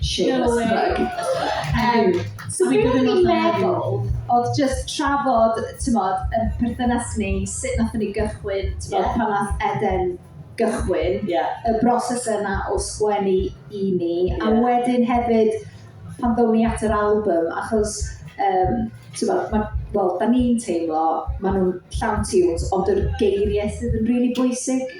Shameless plug. Yym, so be o'n i'n meddwl oedd jyst trafod, t'mod, yn perthynas ni, sut nath ni gychwyn, t'mod, yeah. pan nath Eden gychwyn, yeah. y broses yna o sgwennu i ni, yeah. a wedyn hefyd pan ddown ni at yr album, achos, um, t'mod, mae wel, da ni'n teimlo, maen nhw'n llawn tunes, ond yr geiriau sydd yn rili really bwysig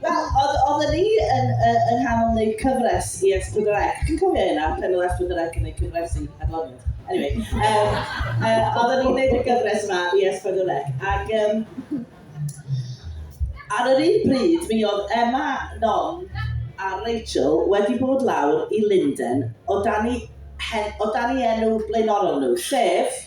Wel, oedd, oedden ni yn, uh, yng nghanol wneud cyfres i S4C. Chi'n cofio hynna, pen oedd S4C yn gwneud cyfres i Adloniant? Anyway, um, uh, oedden ni'n gwneud y gyfres yma i S4C. Ac um, ar yr un bryd, mi oedd Emma, Non a Rachel wedi bod lawr i Linden o dan i, hen, o dan i enw blaenorol nhw, sef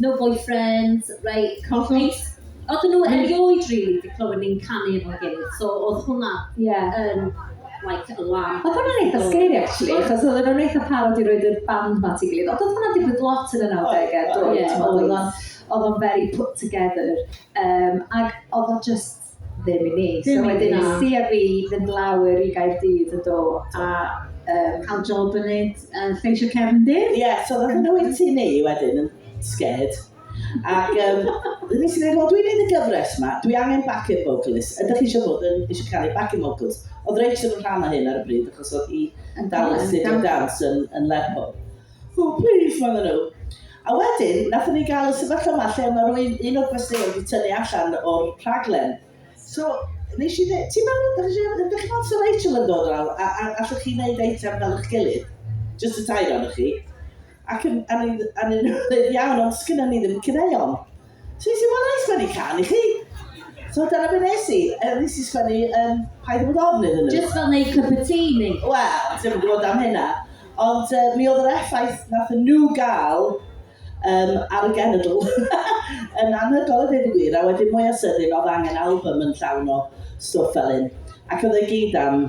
No boyfriends, right, coffis. Oedden nhw erioed rili 'di clywed ni'n canu efo'n gilydd, so oedd hwnna Ie. yn like alarm. Oedd hwnna'n eitha scary actually, achos oedden nhw'n eitha parod i roed y band 'ma at ei gilydd, ond oedd hwnna'n digwydd lot yn y nawdegau, doedd, oedd o'n very put together, um, ac oedd o just ddim i mi. Dim i fi. So wedyn es i a fi fynd lawr i Gaerdydd yn do a um, cael job yn neud uh, lleisio cefndir. Ie, yeah, so roedd yn oed ti ni wedyn yn scared. Ac um, nes i ddweud, wel dwi'n neud y gyfres yma, dwi angen backing vocalist. Ydych chi eisiau bod yn eisiau cael ei backing vocals? Oedd Rachel yn rhan o hyn ar y bryd, achos oedd hi yn dal yn studio dance yn, yn Lerpwl. Ww plîs medden nhw. A wedyn nathon ni gael y sefyllfa 'ma lle mae rhywun, un o'r gwesteion wedi tynnu allan o'r rhaglen. So nes i ddeud, ti'n meddwl, ydych chi'n meddwl, ydych chi'n meddwl 'sa Rachel yn dod lawr a a allwch chi wneud eitem fel eich gilydd? Jyst y tair ohonoch chi. Ac yn a o'n i'n a o'n i'n ddeud iawn ond sgynnon ni ddim caneuon. So nes i, wel, wna i sgwennu can i chi. So dyna beth nes i. Er, nes i sgwennu um, Paid â bod ofn iddyn nhw. Just fel neud cup of tea ni. Wel, ddim yn gwybod am hynna. Ond uh, mi oedd yr effaith nath nhw gael um, ar y genedl yn anhygoel y dweud y gwir. A wedyn mwy o sydyn, oedd angen album yn llawn o stwff fel hyn. Ac oedd e gyd am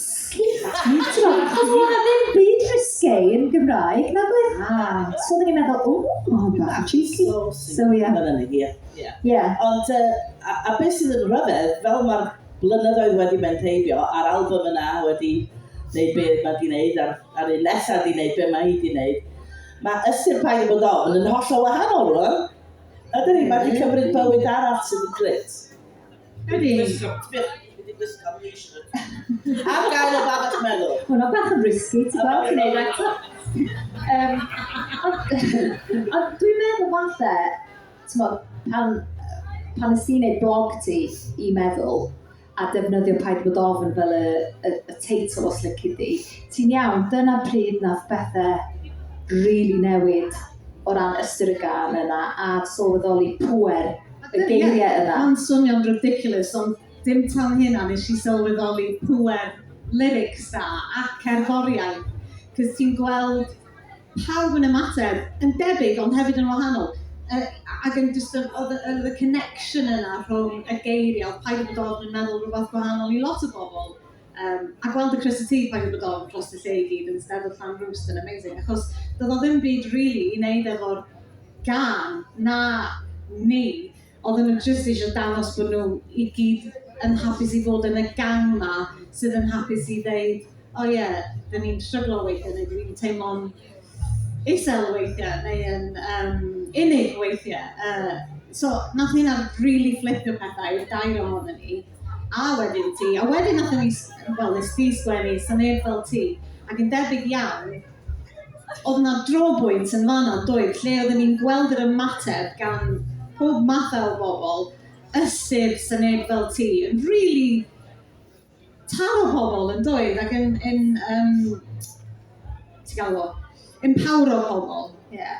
Chos mae ddim byd risque yn Gymraeg, na beth? Ah. So oedden ni'n meddwl, o, oh, bach yn cheeky. So, so yeah. Mae'n yna hi, ie. Ie. Ond, uh, a, a beth sydd yn rhyfedd, fel mae'r blynyddoedd wedi mynd heibio, a'r album yna wedi gwneud be mae di wneud, a'r, ar un nesaf di wneud be mae hi di wneud, mae ystyr paid bod ofn yn holl o wahanol rwan. Ydyn ni, mae wedi cymryd bywyd arall sydd yn grit. Ydy. Ar gael o babell meddwl. Hwna bach yn risky, ti'n gweld, ti'n neud eto. Um, ond dwi'n meddwl falle, ti'n gweld, pan, pan ys ti'n neud blog ti i meddwl, a defnyddio paid bod ofn fel y, y, y teitl os lyci di, ti'n iawn, dyna pryd nath bethau rili really newid o ran ystyr y gan yna a sylweddoli pwer y geiriau yna. Mae'n swnio'n ridiculous ond dim tan hynna nes i sylweddoli pŵer lyrics da a cerddoriaeth, cos ti'n gweld pawb yn ymateb yn debyg ond hefyd yn wahanol. Uh, ac yn just, oedd y connection yna rhwng y geiriau, oedd paid yn dod yn meddwl rhywbeth gwahanol i lot o bobl. Yym a gweld y crys y tŷ pan bod ofn dros y lle i gyd yn steddfod Llan Rwst yn amazing achos doedd o ddim byd rili i wneud efo'r gân na ni. Oedden nhw jyst eisiau dangos bod nhw i gyd yn hapus i fod yn y gang 'ma sydd yn hapus i ddeud "o ie, 'da ni'n stryglo weithiau" neu "'da ni'n teimlo'n isel weithiau neu yn yym unig weithiau. Yy so wnaeth hynna rili fflipio pethau i'r dair ohonon ni. A wedyn ti. A wedyn wnaethon ni s- wel wnes ti sgwennu 'Sa neb fel ti', ac yn debyg iawn oedd 'na drobwynt yn fan'na yn doedd, lle oedden ni'n gweld yr ymateb gan pob mathau o bobl, ysyr 'Sa neb fel ti' yn rili taro pobl yn doedd ac yn yn yrm ti galw fo empowro pobl. Ie.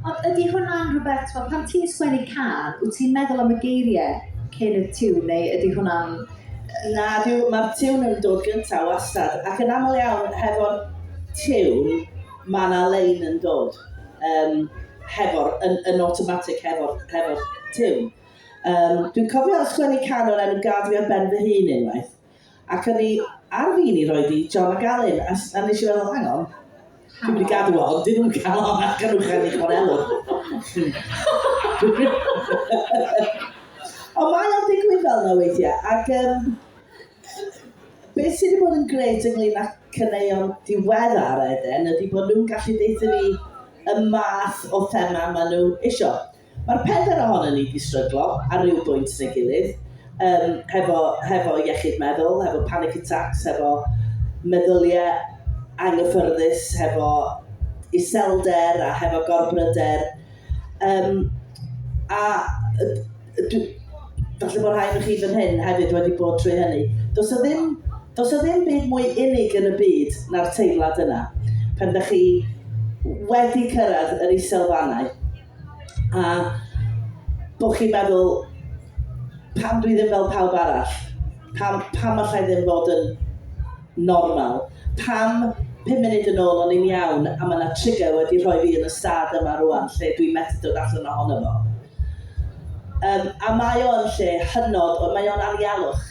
Ond ydy hwnna'n rhywbeth t'mo' pan ti'n sgwennu can wyt ti'n meddwl am y geirie cyn y tiwn neu ydy hwnna'n... Na dyw ma'r tiwn yn dod gynta' wastad ac yn aml iawn hefo'r tiwn ma' 'na lein yn dod yrm hefo'r yn yn awtomatig hefo'r hefo'r tiwn. Um, dwi'n cofio ysgwennu can o'r enw Gad fi ar ben fy hun unwaith. Ac o'n i ar fin i roi di John a Galyn, a, a nes i feddwl, hang on, dwi'n mynd i gadw o, dyn nhw'n cael o'n ac yn uchel i chwanelwr. Ond mae o'n digwydd fel yna weithiau, ac um, beth sydd wedi bod yn gret ynglyn â cyneuon diweddar Eden ydy bod nhw'n gallu deuthyn ni y math o thema maen nhw eisiau. Mae'r pedair ohonyn ni 'di stryglo ar ryw bwynt neu gilydd, yym, hefo, hefo iechyd meddwl, hefo panic attacks, hefo meddyliau anghyffyrddus, hefo iselder a hefo gorbryder. Um, a dwi, falle bod rhai ohonoch chi fan hyn hefyd wedi bod trwy hynny. Does o ddim, does o ddim byd mwy unig yn y byd na'r teimlad yna. Pan da chi wedi cyrraedd yr iselfannau, a bod chi'n meddwl, pam dwi ddim fel pawb arall? Pam, pam allai ddim fod yn normal? Pam pum munud yn ôl o'n i'n iawn a mae yna trigger wedi rhoi fi yn y stad yma rwan lle dwi'n methu dod allan ohono fo? Um, a mae o'n lle hynod, ond mae o'n anialwch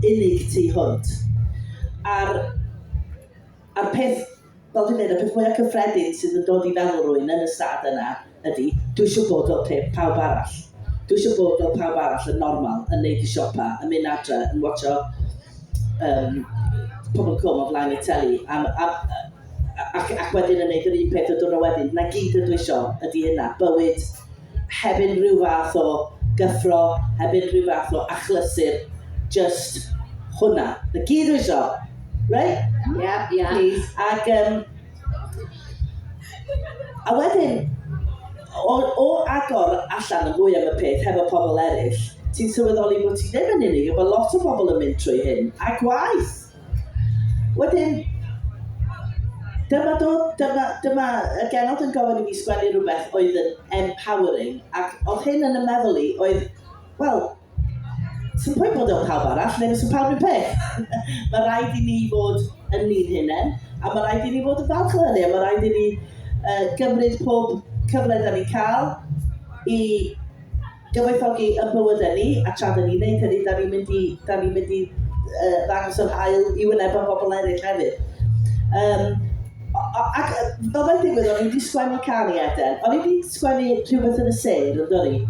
unig tu hwnt. A'r, a'r peth Fel dwi'n deud, y peth mwya cyffredin sydd yn dod i feddwl rwy'n yn y stad yna ydi, dwi isio bod fel pe- pawb arall. Dwi isio bod fel pawb arall, yn normal, yn neud y siopa, yn mynd adre, yn watsio yym Pobol y Cwm o flaen y teli, a m- a m- yy ac ac wedyn yn neud yr un peth y diwrnod wedyn. 'Na gyd ydw i isio, ydi hynna, bywyd heb unrhyw fath o gyffro, heb unrhyw fath o achlysur, jyst hwnna. Na gyd dwi isio. Right? Yeah, yeah. Please. Ac, um, a wedyn, o, o agor allan y mwy am y peth hefo pobl eraill, ti'n sylweddoli bod ti ddim yn unig, bod lot o bobl yn mynd trwy hyn, a gwaith! Wedyn, dyma do, dyma, dyma y genod yn gofyn i mi sgwennu rhywbeth oedd yn empowering, ac oedd hyn yn y meddwl i oedd, wel, sy'n pwynt bod o'n pawb arall, neu sy'n pawb yn peth. mae rhaid i ni fod yn ni'n hunain, a mae rhaid i ni fod yn falch o hynny, a mae rhaid i ni uh, gymryd pob cyfle da ni'n cael i gyfoethogi yn bywydau ni, a tra da ni'n neud hynny, da ni'n mynd i, da ni'n mynd i uh, ddangos yr hael i wyneb yn bobl eraill hefyd. Um, ac fel mae'n digwydd, o'n i wedi sgwennu can i Eden. O'n i wedi sgwennu rhywbeth yn y sêr, yn dod i.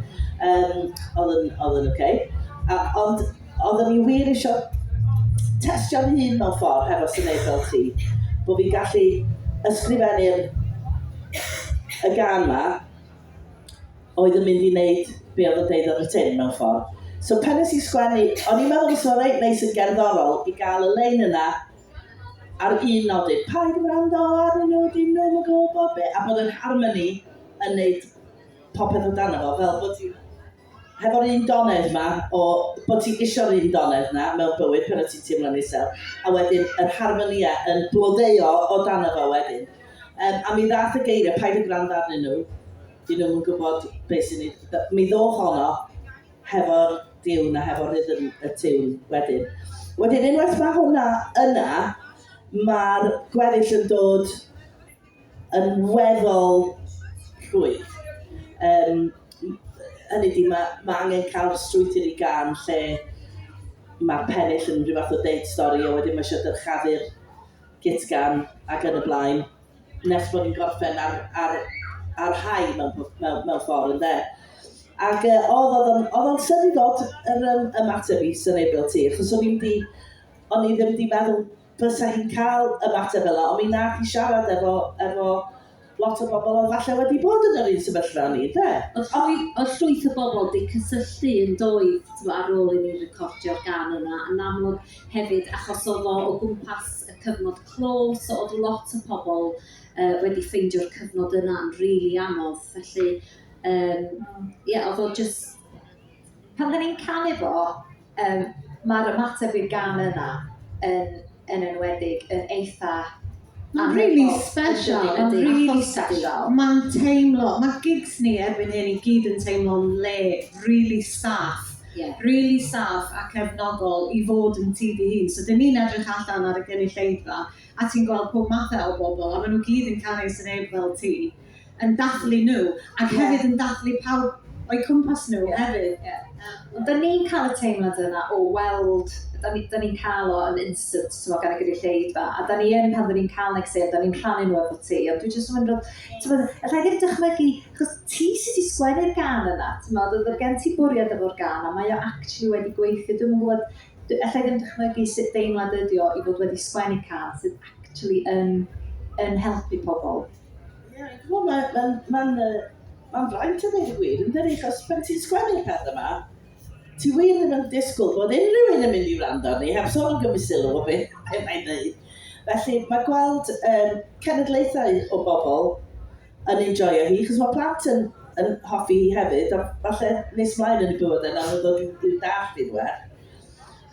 Um, oedd yn, oedd yn okay. A, ond oedd yn i wir eisiau testio'n hun mewn ffordd hefo sy'n neud fel ti. Bod fi'n gallu ysgrifennu'r y gan ma, oedd yn mynd i wneud be oedd yn deud yn y tin mewn ffordd. So pan nes i sgwennu, o'n i'n meddwl fysa reit neis yn gerddorol i gael y lein yna ar un nodyn, paid yn rando ar y nodyn nhw'n yn gwybod be, a bod yr harmony yn neud popeth o dan efo, fel bod ti'n hefo'r un donedd 'ma o bod ti isio'r un donedd 'na mewn bywyd pan wyt ti'n teimlo'n isel, a wedyn yr harmonia yn blodeuo o dano fo wedyn. Um, a mi ddath y geiriau, paid y gwrando arnyn nhw, dyn nhw'n gwybod beth sy'n ei... Mi ddoth honno hefo'r diwn a hefo'r rhythm y tiwn wedyn. Wedyn, unwaith mae hwnna yna, mae'r gweddill yn dod yn weddol rhwydd. Yym, hynny ydi, mae ma' angen cael strwythur i gân lle mae'r pennill yn rhyw fath o deud stori a wedyn mae eisiau dyrchafu'r gitgan ac yn y blaen, nes bod ni'n gorffen ar ar ar high mewn mewn mewn ffordd ynde? Ac yy oedd oedd o'n oedd o'n syndod yr yym ymateb i Sunebil ti achos o'n i wedi o'n i ddim wedi meddwl fysa hi'n cael y fater fel 'na, ond mi nath hi siarad efo efo lot o bobl oedd falle wedi bod yn yr un sefyllfa â ni, ynde? O'dd llwy- o'dd llwyth o bobl 'di cysylltu yn doedd t'mo' ar ôl i ni recordio'r gân yna yn amlwg hefyd achos o'dd o o gwmpas y cyfnod clo so o'dd lot o pobl yy wedi ffeindio'r cyfnod yna'n rili anodd felly yym ie o'dd o jyst pan 'dan ni'n canu fo Yym ma'r ymateb i'r gân yna yn yn enwedig yn eitha Ma'n rili sbesial ma'n rili sbesial. Ma'n teimlo ma' gigs ni erbyn hyn i gyd yn teimlo'n le rili saff. Ie. Rili saff a cefnogol i fod yn ti dy hun so 'dyn ni'n edrych allan ar y gynulleidfa a ti'n gweld pob mathe o bobol a ma' nw gyd yn canu sy'n 'eb fel ti. yn dathlu nhw ac hefyd yn dathlu pawb o'u cwmpas nhw hefyd. Ie. Ond 'dan ni'n ca'l y teimlad yna o weld, 'dan ni 'dan ni'n ca'l o yn instant t'mod gan y gynulleidfa a 'dan ni yn pan 'dan ni'n ca'l neges dda 'dan ni'n rhannu nhw efo ti ond dwi jyst yn meddwl t'mod allai ddim dychmygu 'chos ti sy 'di sgwennu'r gân yna t'mod o'dd o' gen ti bwriad efo'r gân a mae o actually wedi gweithio dwi'm yn gwbod d- allai ddim dychmygu sut deimlad ydi o i fod wedi sgwennu cân sydd actually yn yn helpu pobol. Ie, ch'mo' ma' ma'n ma'n yy ma'n fraint a ddeud y gwir yndydi achos pan ti'n sgwennu'r peth yma ti wir ddim yn disgwyl bod unrhyw un yn mynd i wrando arni heb sôn am gymryd sylw o be' be' mae'n ddeud. Felly ma' gweld yym cenedlaethau o bobl yn enjoio hi achos ma' plant yn yn hoffi hi hefyd a falle nes mlaen yn y bywydau nawn nhw ddod i'w i'w dallt hi'n well.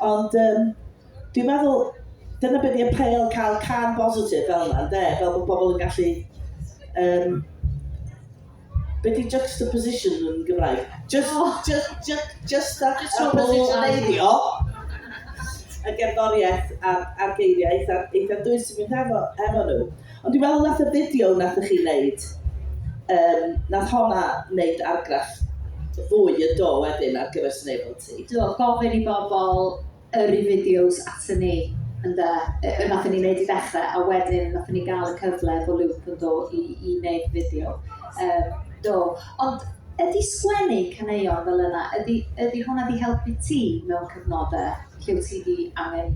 Ond um, dwi'n meddwl, dyna beth i'n appeal cael can bositif fel yna, de? Fel bod pobl yn gallu... Um, be di juxtaposition yn Gymraeg? Just, oh. just, just, just that juxtapositioneiddio y gerddoriaeth a'r, ar geiriau eitha, eitha dwys sy'n mynd efo, efo nhw. Ond dwi'n meddwl nath y fideo nathoch chi wneud, um, nath honna wneud argraff fwy yn do wedyn ar gyfer Snable ti. Do, gofyn i bobl yr i fideos atyn ni, yn da, y nath ni wneud i ddechrau, a wedyn nath ni gael y cyfle efo Luke yn do i, i wneud fideo. Um, do, ond ydy sgwennu caneuon fel yna, ydy, ydy hwnna wedi helpu ti mewn cyfnodau lle wyt ti wedi angen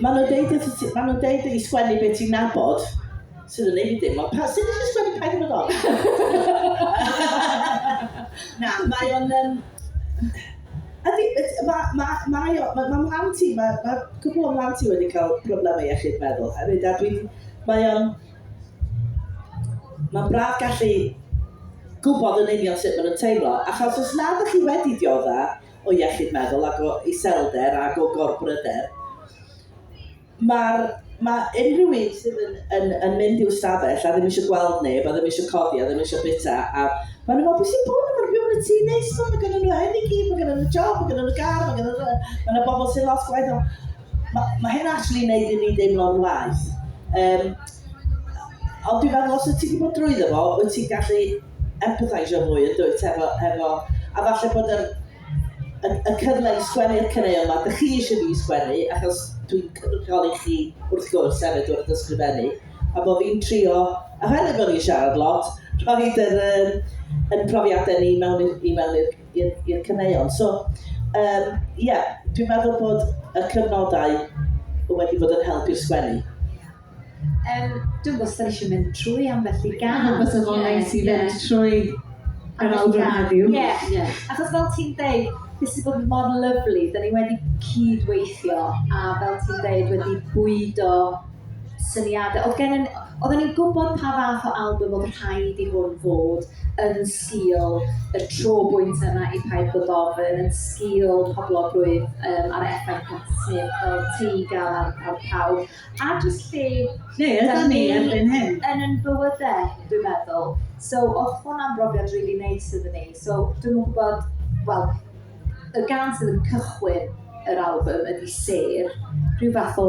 Maen nhw'n deud wrth ti... Maen nhw'n deud i sgwennu beth ti'n nabod, sydd yn neud i ddim, ond pa... Sut nes i sgwennu Paid â Bod Ofn? Na, mae o'n... Um, ydy, mae ma, ma, ma, ma mhlant i, mae ma cwpl o mhlant i wedi cael problemau iechyd meddwl hefyd, a dwi'n... Mae o'n... Mae'n braf gallu gwybod yn union sut maen nhw'n teimlo, achos os nad ydych chi wedi diodda, o iechyd meddwl ac o iselder ac o gorbryder, mae'r mae unrhyw un sydd yn, yn, yn mynd i'w stafell a ddim eisiau gweld neb, a ddim eisiau codi, a ddim eisiau bita, a maen nhw'n meddwl, beth sy'n bod yma, rhywun y tŷ neis, so, mae gen nhw hyn i gyd, mae gen nhw job, mae gen nhw gar, mae gen nhw... Mae yna bobl sy'n lot gwaith o... Mae, mae hyn actually yn neud i ni deimlo'n waeth. Um, ond dwi'n meddwl, os wyt ti wedi bod drwyddo fo, wyt ti'n gallu empatheisio mwy yn dwyt efo efo a falle bod yr y, y cyfle i sgwennu'r caneuon yma, dych chi eisiau fi sgwennu achos dwi'n cynrychioli chi wrth gwrs hefyd wrth ysgrifennu a bod fi'n trio a hefyd bod ni'n siarad lot rhoi yr um, yn profiadau ni mewn i mewn i'r caneuon. So um, yeah, dwi'n meddwl bod y cyfnodau wedi bod yn help i'r sgwennu. Yym, dwi'm gwybod os da ni eisiau mynd trwy ambell i gân. Dwi'n meddwl fysa fo'n neis i fynd trwy yr albwm heddiw. Ie, ie. Achos fel ti'n deud, fi wedi bod mor lyfli, da ni wedi cyd-weithio a fel ti'n deud, wedi bwydo syniadau. Oedd gennym... oedden ni'n gwybod pa fath o albwm oedd rhaid i hwn fod yn sgîl y tro bwynt yma i Paid Bod Ofn, yn sgîl poblogrwydd yym a'r effaith Patti Smith fel ti gael ar ar pawb. a jyst lle Lle ydan ni erbyn hyn? yn yn bywydau, dwi'n meddwl. So, oedd hwnna'n brofiad rili neis iddyn ni. So, dwi'm yn gwybod, wel, y gan sydd yn cychwyn yr album ydy Sêr, rhyw fath o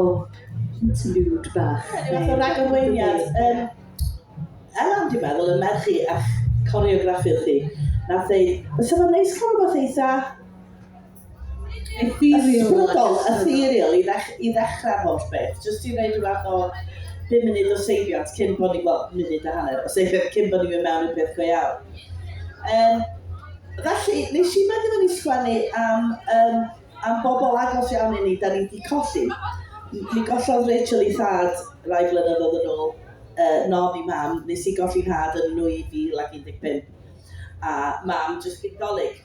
interlude bach. Ie, rhyw fath o ragorweiniad. Yym, Elan, dwi'n meddwl, y merch chi a'ch coreograffiwr chi, nath ddeud, fysa fo'n neis cael rhywbeth eitha Ethereal. Ysbrydol, ethereal i ddech- i ddechrau'r holl beth, jyst i wneud rhywbeth fath o bum munud o seibiant cyn bod ni, wel, munud a hanner o seibiant cyn bod ni'n mynd mewn i'r peth go iawn. Um, felly, nes i benderfynu ni sgwennu am, um, am bobl agos iawn i ni, da ni wedi colli. Mi gollodd Rachel i thad rai blynyddoedd yn ôl, uh, non i mam, nes i golli nhad yn 2015, a mam jyst gyd dolyg.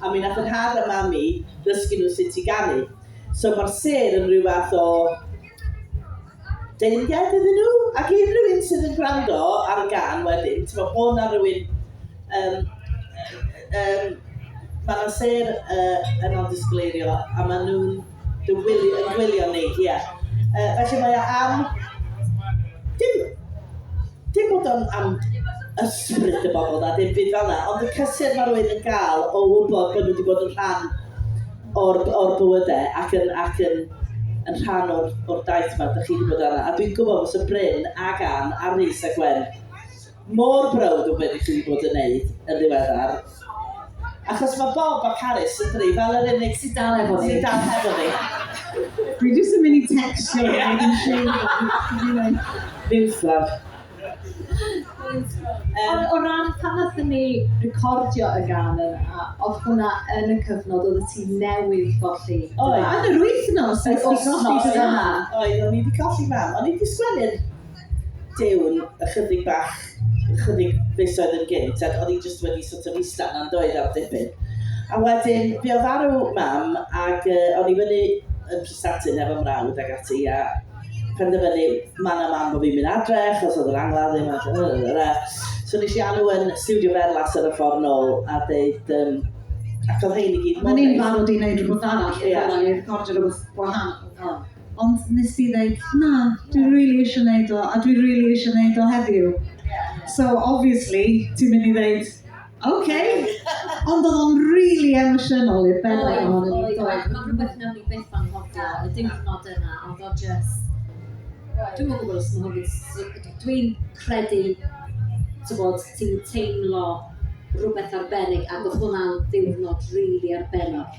a mi nath yr had a mami ddysgu nhw sut i ganu. So mae'r sêr yn rhyw fath o deyrnged iddyn nhw, ac unrhyw un sydd yn gwrando ar y gan wedyn, ti'n meddwl bod na rhywun, um, um, mae yna sêr uh, yn o'n disgleirio, a maen nhw'n Dy wylio, yn gwylio ni, ie. Yy, felly mae o am... Dim, dim bod o'n am ysbryd y bobl na dim byd fel 'na, ond y cysur mae rhywun yn gael o wybod bod nhw wedi bod yn rhan o'r, o'r bywydau ac yn, ac yn, yn rhan o'r, o'r daith 'ma dych chi wedi bod arno. A dwi'n gwybod fysa Bryn ac Ann a Rhys a Gwen... mor browd o be dych chi wedi bod yn wneud yn ddiweddar. Achos mae Bob a Paris yn dri fel yr unig sy'n dal efo ni. Sy'n dal efo ni. Dwi jyst yn mynd i textio ni yn yn siŵr. Newsflash. Ond o ran pan nathon ni recordio y gan yna, oedd hwnna yn y cyfnod oedd y ti newydd golli? Oedd. Yn yr wythnos? Yr wythnos yna. Oedd, o'n i wedi colli mam. O'n i wedi sgwennu'r Duw'n ychydig bach, ychydig fisoedd yn gynt, ac oedd hi jyst wedi sort of ista yna yn doedd am dipyn. A wedyn, fi oedd arw mam, ac uh, o'n i fyny yn Prestatyn efo mrawd ac ati, a penderfynu man a man bod fi'n mynd adre, achos oedd yr angladd ddim adre. So nes i alw yn studio berlas ar y ffordd nôl, a dweud, um, ac oedd hein i gyd mor neis. Mae'n i'n barod i wneud rhywbeth arall, yeah. i'r gordio rhywbeth gwahanol. Oh. Ond nes di ddeud, na, dwi rili eisiau neud o, a dwi rili eisiau neud o heddiw. So, obviously, ti'n mynd i ddeud, OK! Ond oedd o'n rili emosiynol i'r bennod hon. Oedd, oedd, oedd. Mae'n rhywbeth nawn ni byth anghofio, y diwrnod yna, oedd o jyst... Dwi'm yn gwybod os mae hwn... Dwi'n credu, tybod, ti'n teimlo rhywbeth arbennig, ac oedd hwnna'n ddiwrnod rili arbennig.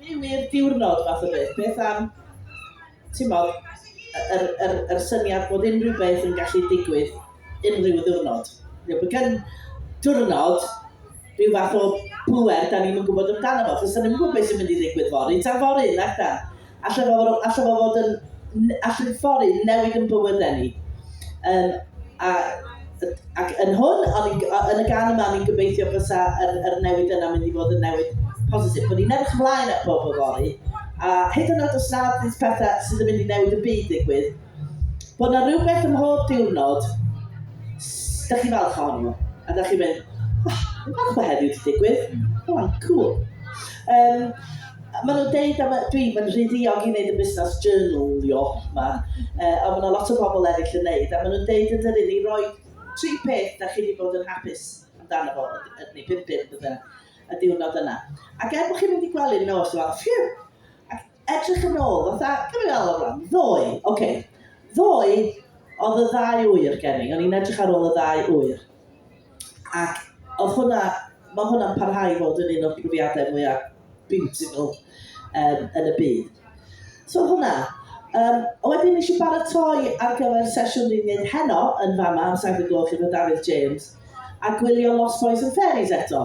Byw i'r diwrnod fath o beth. Beth am, ti'n modd, yr, yr, yr syniad bod unrhyw beth yn gallu digwydd unrhyw ddiwrnod. Neu bod gen diwrnod rhyw fath o bwer da ni'n yn gwybod amdano fo, achos da ni'n gwybod beth sy'n mynd i ddigwydd fory, tan fory, nac da. Alla fo, alla fo fod yn, allan ffordd i newid yn bywydau ni. Um, a, ac yn hwn, ond yn y gan yma, ni'n gobeithio fysa yr, yr newid yna mynd i fod yn newid positif. Bod ni'n edrych ymlaen at bob o fori, a hyd yn oed os nad pethau sydd yn mynd i newid y byd digwydd, Bod 'na rywbeth ym mhob diwrnod s- 'da chi'n falch ohonyn nhw, a 'da chi'n mynd, oh, fi'n falch bod heddiw 'di digwydd, go on, cŵl. Yym, maen nhw'n deud am y... dwi, mae'n rhy ddiog i wneud y busnes journalio 'ma, yy ond ma' 'na lot o bobl eraill yn wneud, a maen nhw'n deud yn dydi, ni roi tri peth 'da chi 'di bod yn hapus amdano fo, y- neu pump peth, y diwrnod yna. Ac er bod chi'n mynd i gwely'n nos, ti'n meddwl, ffîw! edrych yn ôl, fatha, gymryd yn ôl rhan, ddoe, oce, okay. ddoe oedd y ddau wyr gen i, o'n i'n edrych ar ôl y ddau wyr. Ac oedd hwnna, mae hwnna'n parhau i fod yn un o'r profiadau mwyaf beautiful um, yn y byd. So hwnna. Um, a wedyn nes i baratoi ar gyfer sesiwn ni'n mynd heno yn fama am 7 gloch efo Dafydd James a gwylio Lost Boys and Fairies eto.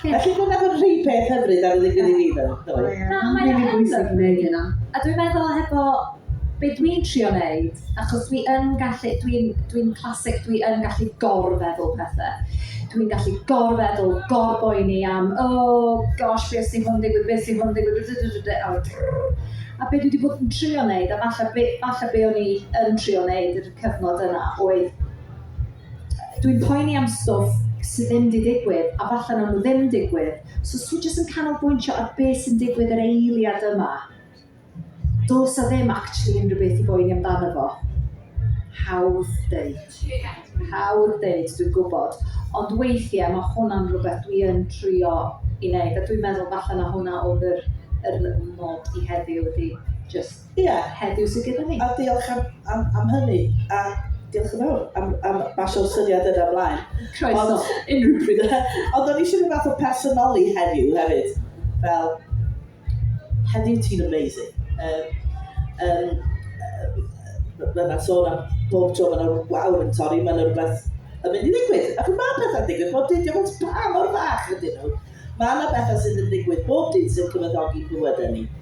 Felly dyna fod rhai peth hyfryd ar y ddigwydd i fi fel ddoe. Na, mae'n rili bwysig gwneud hynna. A dwi'n meddwl hefo be dwi'n trio wneud, achos dwi yn gallu, dwi'n dwi classic, dwi yn gallu gorfeddwl pethau. Dwi'n gallu gorfeddwl, gorboeni am, oh gosh, beth sy'n hwn digwydd, beth sy'n hwn digwydd, a be dwi wedi bod yn trio wneud, a falle be, falle be o'n i yn trio wneud yr cyfnod yna, oedd dwi'n poeni am stwff sydd ddim wedi digwydd, a falle nhw ddim digwydd. So os ti'n jyst yn canolbwyntio ar beth sy'n digwydd yr eiliad yma, dos a ddim actually unrhyw beth i boeni amdano fo. Hawdd deud. Hawdd deud, dwi'n gwybod. Ond weithiau mae hwnna'n rhywbeth dwi yn trio i wneud, a dwi'n meddwl falle na hwnna oedd yr, yr nod i heddiw ydy just Ia. Heddiw sydd gyda ni. A diolch am, am, am hynny. A diolch yn fawr am, am basio'r syniad yna ymlaen. Croeso, Ond, unrhyw pryd. Ond o'n eisiau rhyw fath o personoli heddiw hefyd. Fel, heddiw ti'n amazing. Um, um, Mae'n sôn am bob tro mae'n yna wawr yn torri, mae'n yna rhywbeth yn mynd i ddigwydd. Ac mae pethau'n digwydd bob dydd, diolch yn pa mor fach ydyn nhw. Mae yna bethau sydd yn digwydd bob dydd sy'n cyfyddogi bywydau ni.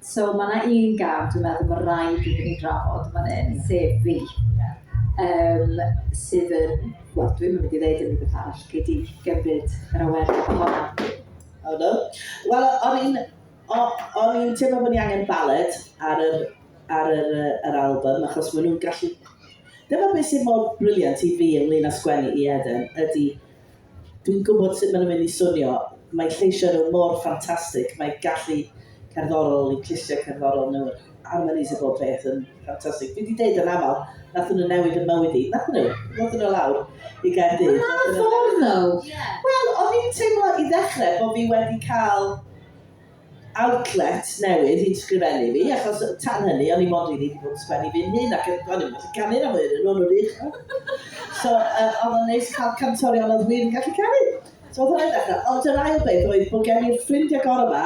So mae 'na un gam dwi'n meddwl ma' raid iddyn ni drafod yn fan 'yn, sef fi. Yym sydd yn, wel dwi'm yn mynd i ddeud unrhyw beth arall, gei di gymryd yr awerth honno. O do. Wel o'n i'n o- o'n i'n teimlo bod ni angen ballet ar yr ar yr yy yr album achos ma' nhw'n gallu... Dyma beth sydd mor brilliant i fi ynglyn â sgwennu i Eden ydy Dwi'n gwybod sut maen nhw'n mynd i swnio. Mae lleisiau nhw mor ffantastig, mae gallu cerddorol eu clustiau cerddorol nhw, yr harmonies a bob peth yn ffantastig. Dwi 'di deud yn aml, nathon nhw newid fy mywyd i. Nathon nhw? Ddothon nhw lawr i Gaerdydd. Na, ffordd nhw! Wel, o'n i'n teimlo i ddechrau bod fi wedi cael outlet newydd i'n sgrifennu fi, achos tan hynny o'n i mond rili 'di bod yn sgwennu fi'n hun ac o'n i'm yn gallu canu na mwy o'nyn nhw, o'n nhw'n wych ddo. So yy o'dd o'n neis cael cantorion oedd wir yn gallu canu. So o'dd hwnna'n ddechrau. Ond yr ail beth oedd bod gen i'r ffrind agorad 'ma,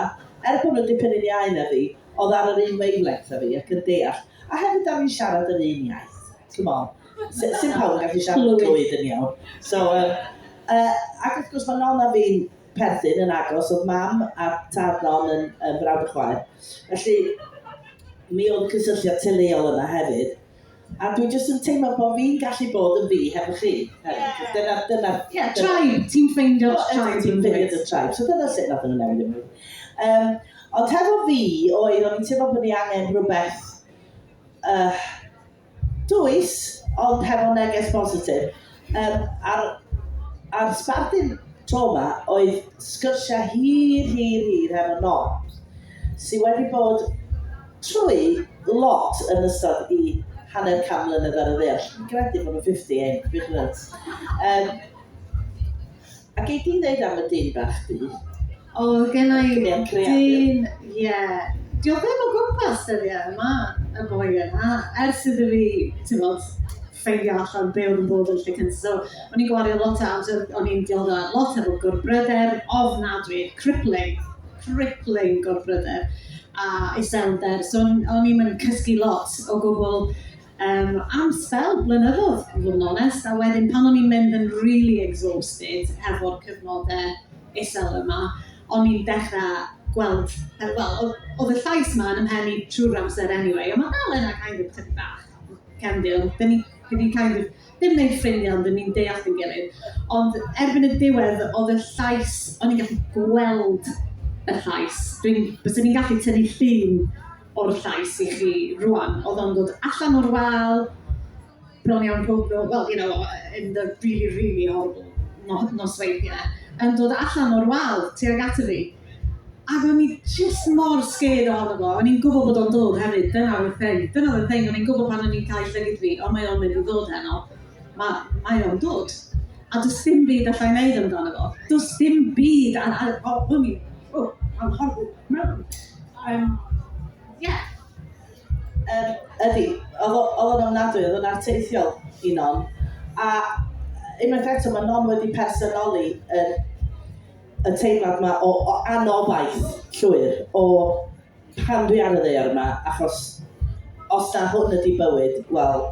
er bod nhw'n dipyn yn iau na fi, o'dd ar yr un wavelength â fi ac yn deall. A hefyd 'dan ni'n siarad yr un iaith, t'mo'? S- sim pawb yn gallu siarad Cymraeg yn iawn. So yym yy ac wrth gwrs ma' Nonna fi'n perthyn yn agos, oedd mam a tad non yn, yn frawd y chwaer. Felly, mi oedd cysylltiad teuluol yna hefyd. A dwi jyst yn teimlo bod fi'n gallu bod yn fi hefo chi. Hefyd. Dyna, dyna... Ie, yeah, tribe. Ti'n ffeindio oh, tribe. Ti'n ffeindio dy tribe. So dyna sut nath nhw'n newid ymwneud. Um, ond hefo fi, oedd o'n teimlo bod ni angen rhywbeth... Uh, Does, ond hefo neges bositif. Yym, a'r, a'r sbardun tro 'ma oedd sgyrsiau hir, hir, hir hefo Nobs, sydd wedi bod trwy lot yn ystod i hanner can mlynedd ar y ddeall. Dwi'n credu bod nhw'n 50 ein big nuts. Yym, a gei di ddeud am y dyn bach di? O, gennau dyn, ie. Dio ddim o gwmpas dyddiau yma, y boi yna. Ers iddo fi, timod, ffeindio allan be oedd yn bod yn Lleucu. So, o'n i'n gwario lot o amser, o'n i'n dioddef lot efo gorbryder ofnadwy, crippling, crippling gorbryder a iselder. So, o'n i'm yn cysgu lot o gwbl. Yym, am sbel blynyddoedd, i fod yn onest, a wedyn pan o'n i'n mynd yn rili exhausted hefo'r cyfnodau isel yma, o'n i'n dechrau gweld, yy wel, oedd oedd y llais 'ma yn 'y mhen i trwy'r amser anyway, ond ma' dal yna kind of tydi bach, cefndir, ond 'dyn ni 'dyn ni'n kind of, ddim yn wneud ffrindiau ond 'dyn ni'n deall ein gilydd. Ond erbyn y diwedd oedd y llais, o'n i'n gallu gweld y llais, dwi'n, bysen i'n gallu tynnu llun o'r llais i chi rwan. Oedd o'n dod allan o'r wal, bron iawn pob nos, well, you know, in the really, really horrible no- nosweithiau, yn dod allan o'r wal tuag ato fi. Ac o'n i just mor scared ohono fo. O'n i'n gwybod bod o'n dod hefyd, dyna oedd y thing. Dyna oedd y thing, o'n i'n gwybod pan o'n i'n cael llygyd fi, ond mae o'n mynd i ddod heno. Mae, mae o'n dod. A does dim byd allai wneud amdano fo. Does dim byd, a, a, o, o'n i, o, I'm horrible. Yym, ie. Yym, ydy. Oedd o, oedd o'n ofnadwy, oedd o'n arteithiol i Non. A unwaith eto, mae Non wedi personoli yr, y teimlad yma o, o anobaith llwyr, o pam dwi ar y ddeor yma, achos os na hwn ydy bywyd, wel,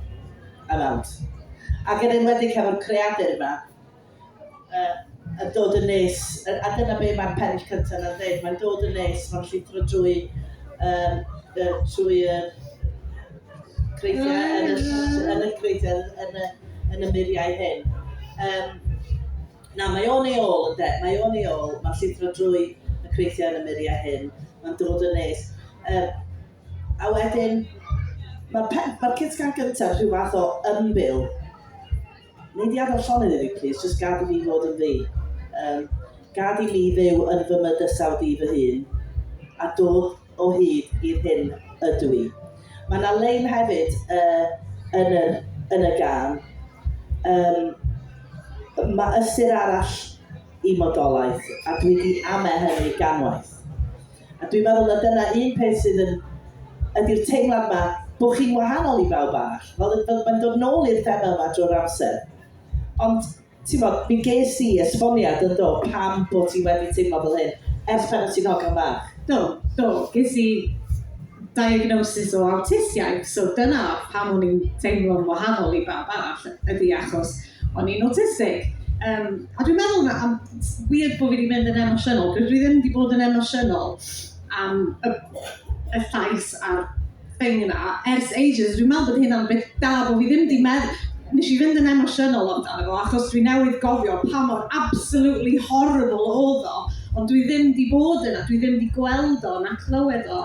I'm out. Ac yn enwedig hefo'r creadur yma, Yy yn dod yn nes, yy a dyna be mae'r pennill cynta 'na'n ddeud, mae'n dod yn nes, mae'n llithro drwy yym yy trwy y creigiau yn y ll- yn y creigiau yn y yn y muriau hyn. Yym na, mae o'n ei ôl ynde, mae o'n ei ôl, mae'n llithro drwy y creigiau yn y muriau hyn, mae'n dod yn nes. Yy a wedyn, mae'r pe- mae'r cyd-sgan gynta rhyw fath o ymbil. Nei di adael llonydd i fi plîs, jyst gad i fi fod yn fi. Um, gad i mi fyw yn fy mydysawd i fy hun, a dod o hyd i'r hyn ydw i. Mae yna lein hefyd uh, yn, y, yn y gan. Um, mae ystyr arall i modolaeth, a dwi wedi ame hynny ganwaith. A dwi'n meddwl na dyna un peth sydd yn... ydy'r teimlad 'ma bod chi'n wahanol i bawb arall. Fel yn... fel mae'n dod nôl i'r thema yma drwy'r amser. Ond, timod, mi ges i esboniad, yn do, pam bo' ti wedi teimlo fel hyn, ers pan o' ti'n hogan bach. Do, do, ges i diagnosis o awtistiaeth, so dyna pam o'n i'n teimlo'n wahanol i bawb arall, ydy achos O'n i'n awtistig. Um, a dwi'n meddwl na, am weird bod fi wedi mynd yn emosiynol, dwi ddim wedi bod yn emosiynol am y, y llais a'r thing yna ers ages. Dwi'n meddwl bod hyn am beth da bod fi ddim wedi meddwl, nes i fynd yn emosiynol amdano fo, achos dwi newydd gofio pa mor absolutely horrible oedd o, ond dwi ddim wedi bod yna, dwi ddim wedi gweld o na clywed o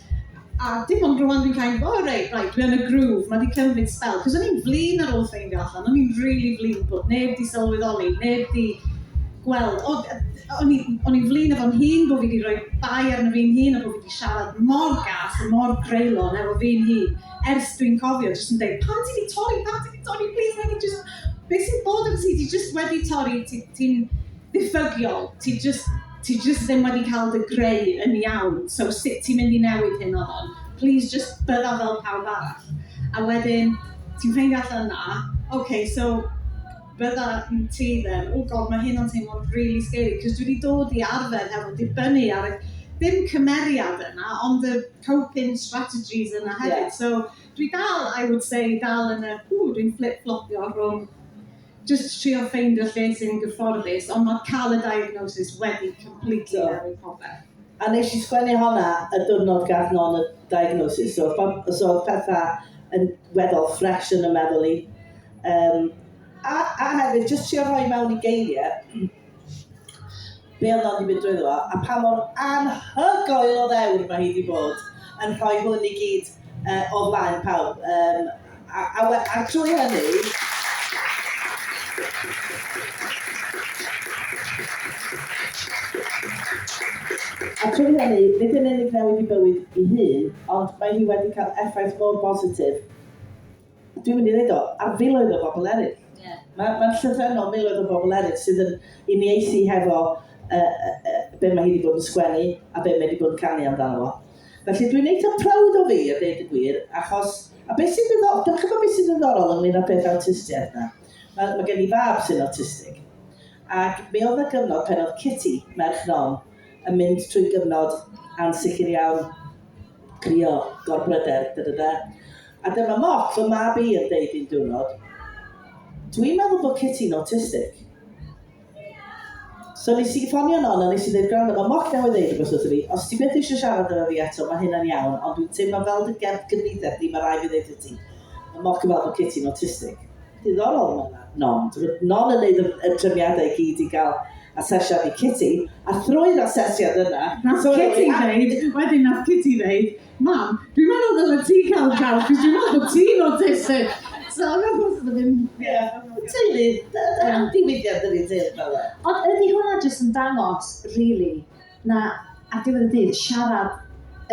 A dim ond rŵan dwi'n kind of, oh reit, reit, dwi yn y groove, mae wedi cymryd spell. Cos o'n i'n flin ar ôl ffeindio allan, o'n i'n really flin bod neb wedi sylweddoli, neb wedi gweld. O, o'n i'n flin efo'n hun bod fi wedi rhoi bai arno fi'n hun a bod fi wedi siarad mor gas a mor greulon efo fi'n hun. Ers dwi'n cofio, jyst yn dweud, pam ti wedi torri, pam ti wedi torri, please, mae wedi jyst... Beth sy'n bod efo ti, ti jyst wedi torri, ti'n... ddiffygiol, ti jyst ti jyst ddim wedi cael dy greu yn iawn, so sut ti'n mynd i newid hyn o hon? Plis jyst bydda fel pawb arall. A wedyn ti'n ffeindio allan na, ok, so bydda ti then, oh god mae hyn yn teimlo'n rili scary, cos dwi wedi dod i arfer hefo dibynnu ar y, ddim cymeriad yna, ond y coping strategies yna hefyd. Yeah. So dwi dal, I would say, dal yn y, ww, dwi'n fflip-fflopio rhwng Jyst trio ffeindio lle sy'n gyfforddus ond ma' ca'l y diagnosis wedi completely newid popeth. A nesh i sgwennu honna y diwrnod gath Non y diagnosis so pan so odd petha yn weddol fresh yn 'y meddwl i. Yym a a hefyd jyst trio rhoi mewn i geirie Be oedd o wedi mynd drwyddo fo, a pa mor anhygoel o ddewr mae hi wedi bod yn rhoi hwn i gyd uh, o flaen pawb. Um, a, a, a, a trwy hynny, A trwy hynny, nid yn unig newid i bywyd i hun, ond mae hi wedi cael effaith mor bositif Dwi'n mynd i ddweud o, a filoedd o bobl eraill. Yeah. Mae'n ma llythrenol miloedd o bobl eraill sydd yn uniaethu hefo uh, uh, be mae hi wedi bod yn sgwennu a be mae wedi bod yn canu amdano fo. Felly dwi'n eitha proud o fi, a dweud y gwir, achos... A beth sy'n ddiddorol, dwi'n chybod beth sy'n ddiddorol ynglyn â peth awtistiaeth na. Mae, mae gen i fab sy'n autistig. Ac mi oedd y gyfnod pen oedd Kitty, merch non, yn mynd trwy gyfnod ansicr iawn, crio, gorbryder, da da da. A dyma Mok, fy mab i, yn deud un diwrnod, Dwi'n meddwl bod Kitty'n autistic. So nes i ffonio non a nes i ddeud, gwrando, mae Mok newydd ddeud rhywbeth wrth i fi, os ti beth eisiau siarad efo fi eto, mae hynna'n iawn, ond dwi'n teimlo fel dy gerdd gyfnither di, mae rai fi ddeud ti. Mae Mok yn fel bod Kitty'n autistic. Diddorol mae yna, non. Dwi'n non yn neud y trefniadau i gyd i gael asesiad i Kitty, a thrwy'r asesiad yna... Nath Kitty ddeud, wedyn nath Kitty ddeud, Mam, dwi'n meddwl ddylet ti cael caws, cos dwi'n meddwl bod ti'n autistic. So, yn o'r bwys, ddim... Ie. Teulu, dyna'n diwydiad ydi teulu fel e. Ond ydy hwnna jyst yn dangos, really, na, a diwedd y dydd, siarad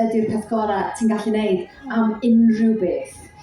ydy'r peth gorau ti'n gallu neud am unrhyw beth.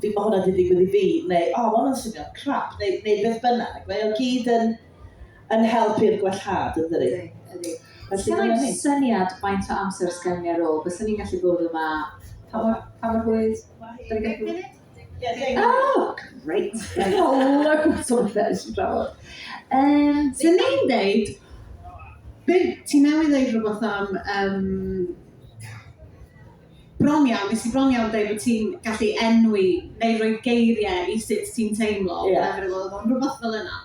fi, mae hwnna wedi digwydd i fi, neu, o, oh, mae hwnna'n swnio'n crap, neu, neu beth bynnag. Mae o'n gyd yn, yn help i'r gwellhad, yn ddyru. Ydy, ydy. syniad faint o amser sgan ni ar ôl, bys ni'n gallu bod yma, pa mor, pa mor hwyr? Oh, great! Hola, gwybod beth ydych chi'n drafod. Um, so ni'n deud, ti'n newydd ddeud rhywbeth am um, bron iawn, nes i bron iawn dweud bod ti'n gallu enwi neu roi geiriau i sut ti'n teimlo, yeah. whatever it was, ond rhywbeth fel yna.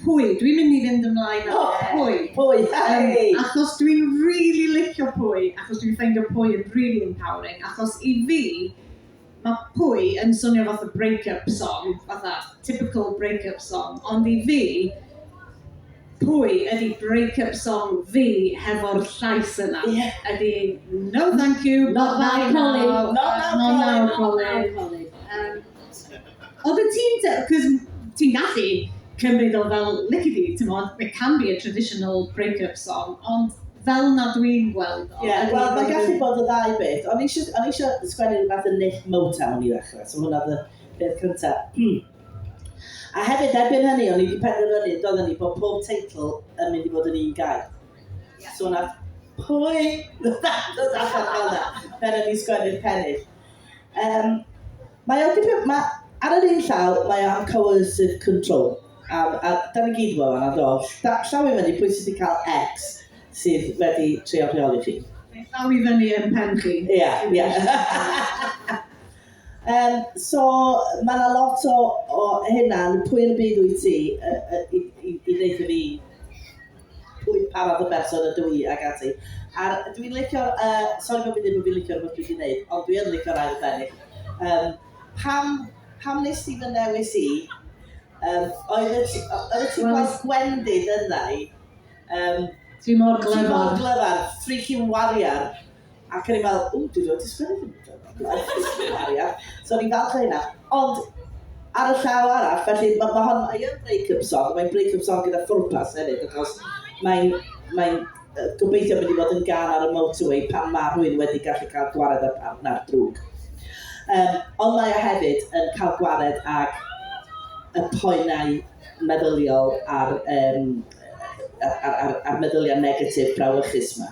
Pwy? Dwi'n mynd i fynd ymlaen â oh, pwy? Pwy, um, Achos dwi'n really licio pwy, achos dwi'n ffeindio pwy yn really empowering, achos i fi, Mae Pwy yn swnio fatha break-up song, fatha typical break-up song, ond i fi, Pwy ydy break-up song fi hefo'r llais yna. Ie. Ydy No thank you, not now Colin, not now Colin, not now Colin. Yym. Oeddet ti'n de- 'c'os ti'n gallu cymryd o fel lici di, t'mod, it can be a traditional break-up song, ond fel 'na dwi'n gweld o... Ie, wel mae'n gallu bod y ddau beth. O'n i isio o'n i isio sgwennu rhywbeth yn nick Motown i ddechrau, so hwnna oedd y peth cyntaf. Hmm. A hefyd, erbyn hynny, o'n i wedi penderfynu, doedden ni, bod pob teitl yn mynd i fod yn un gair. So wnaeth pwy ddod allan fel 'na pan o'n i'n sgwennu'r pennill. Um, mae o'n dipyn... Mae, ar yr un llaw, mae o'n coercive control. A, a da ni gyd fel yna, do. Da, llaw i fyny, pwy sydd wedi cael X sydd wedi trio rheoli chi? Llaw i fyny yn pen chi. Ie, yeah, ie. Yeah. um, so, mae yna lot o, o hynna, pwy yn y byd wyt ti i, i, i ddeitha fi pwy pa fath o berson ydw i ac ati. A'r dwi'n licio'r yy sori bo' fi'n dweud bo' fi'n licio'r hwn dwi 'di wneud ond dwi yn licio'r ail bennill. Yym pam pam wnest ti fy newis i? Yym oeddet ti o- oeddet ti'n gweld gwendid yndda i? Yym Dwi mor glyfar. Dwi mor glyfar! Freaking warrior! Ac o'n i'n meddwl, ww, dwi rioed 'di sgwennu dim byd o'r blaen, jyst cymeriad. So o'n i'n falch o hynna. Ond, ar y llaw arall, felly, ma' ma' hon... mae yn break-up song, ond mae'n break-up song gyda phwrpas hefyd, achos mae'n mae'n gobeithio mynd i fod yn gân ar y motorway pan ma' rhywun wedi gallu cael gwared â'r partner drwg. Yym, ond mae o hefyd yn cael gwared ag y poenau meddyliol a'r yym a'r a'r a'r meddyliau negatif brawychus 'ma.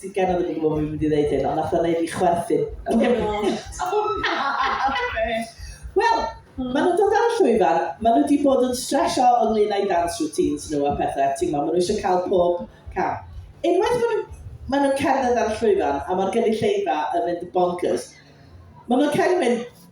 Ti'n gen o'n gwybod bod fi'n mynd i ddeud hyn, ond nath o'n neud i chwerthin. Oh my god! Wel, hmm. maen nhw'n dod ar y llwyfan, maen nhw wedi bod yn stresio ynglyn â'i dance routines nhw a pethau, ti'n gwybod, maen nhw eisiau cael pob cam. Unwaith maen nhw'n maen nhw cerdded ar y llwyfan a mae'r gynulleidfa yn mynd bonkers, maen nhw'n cael mynd,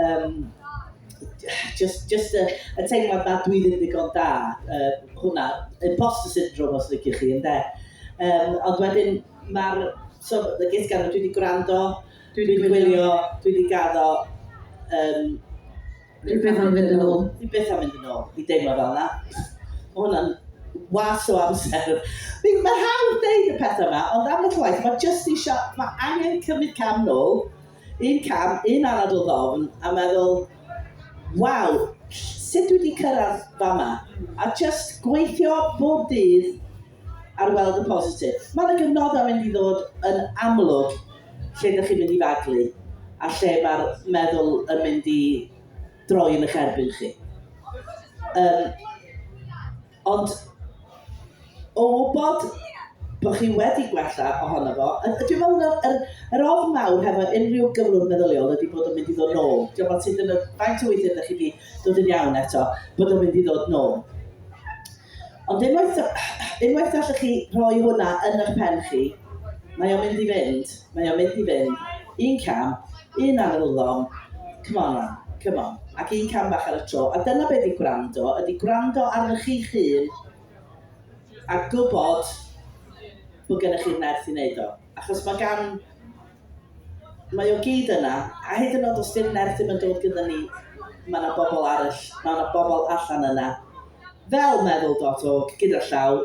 Um, just, just y, y teimlad na dwi ddim ddigon da, uh, hwnna, imposter syndrome os liciwch chi, ynddo. Um, ond wedyn, mae'r, so, y gys gan, dwi wedi gwrando, dwi wedi gwylio, dwi wedi gaddo, um, Dwi beth am fynd yn ôl. Dwi beth am fynd yn ôl, i deimlo fel yna. Mae hwnna'n was o amser. Mae hawdd deud y pethau yma, ond am y llwaith, mae just eisiau, mae angen cymryd cam nôl, Un cam, un anad o ddofn a meddwl, waw, sut dwi 'di cyrraedd fama? A jyst gweithio bob dydd ar weld y positif. Mae 'na gyfnodau mynd i ddod yn amlwg lle dych chi'n mynd i faglu a lle mae'r meddwl yn mynd i droi yn eich erbyn chi. Yym. Ond o wybod bod chi wedi gwella ohono fo, a dwi'n meddwl na yr, yr ofn mawr hefo unrhyw gyflwr meddyliol ydy bod o'n mynd i ddod nôl. Dwi'n meddwl sydd yn y faint o weithiau ydych chi wedi dod yn iawn eto, bod o'n mynd i ddod nôl. Ond unwaith, unwaith allwch chi rhoi hwnna yn eich pen chi, mae o'n mynd i fynd. Mae o'n mynd i fynd. Un cam, un ar yr ulon. Come on lan, come on. Ac un cam bach ar y tro. A dyna be ydy gwrando, ydy gwrando arnoch chi'ch hun a gwybod bod gennych chi'r nerth i wneud o. Achos mae gan... mae o gyd yna, a hyd yn oed os di'r nerth ddim yn dod gyda ni, mae yna bobl arall, mae yna bobl allan yna, fel meddwl dot org, gyda llaw,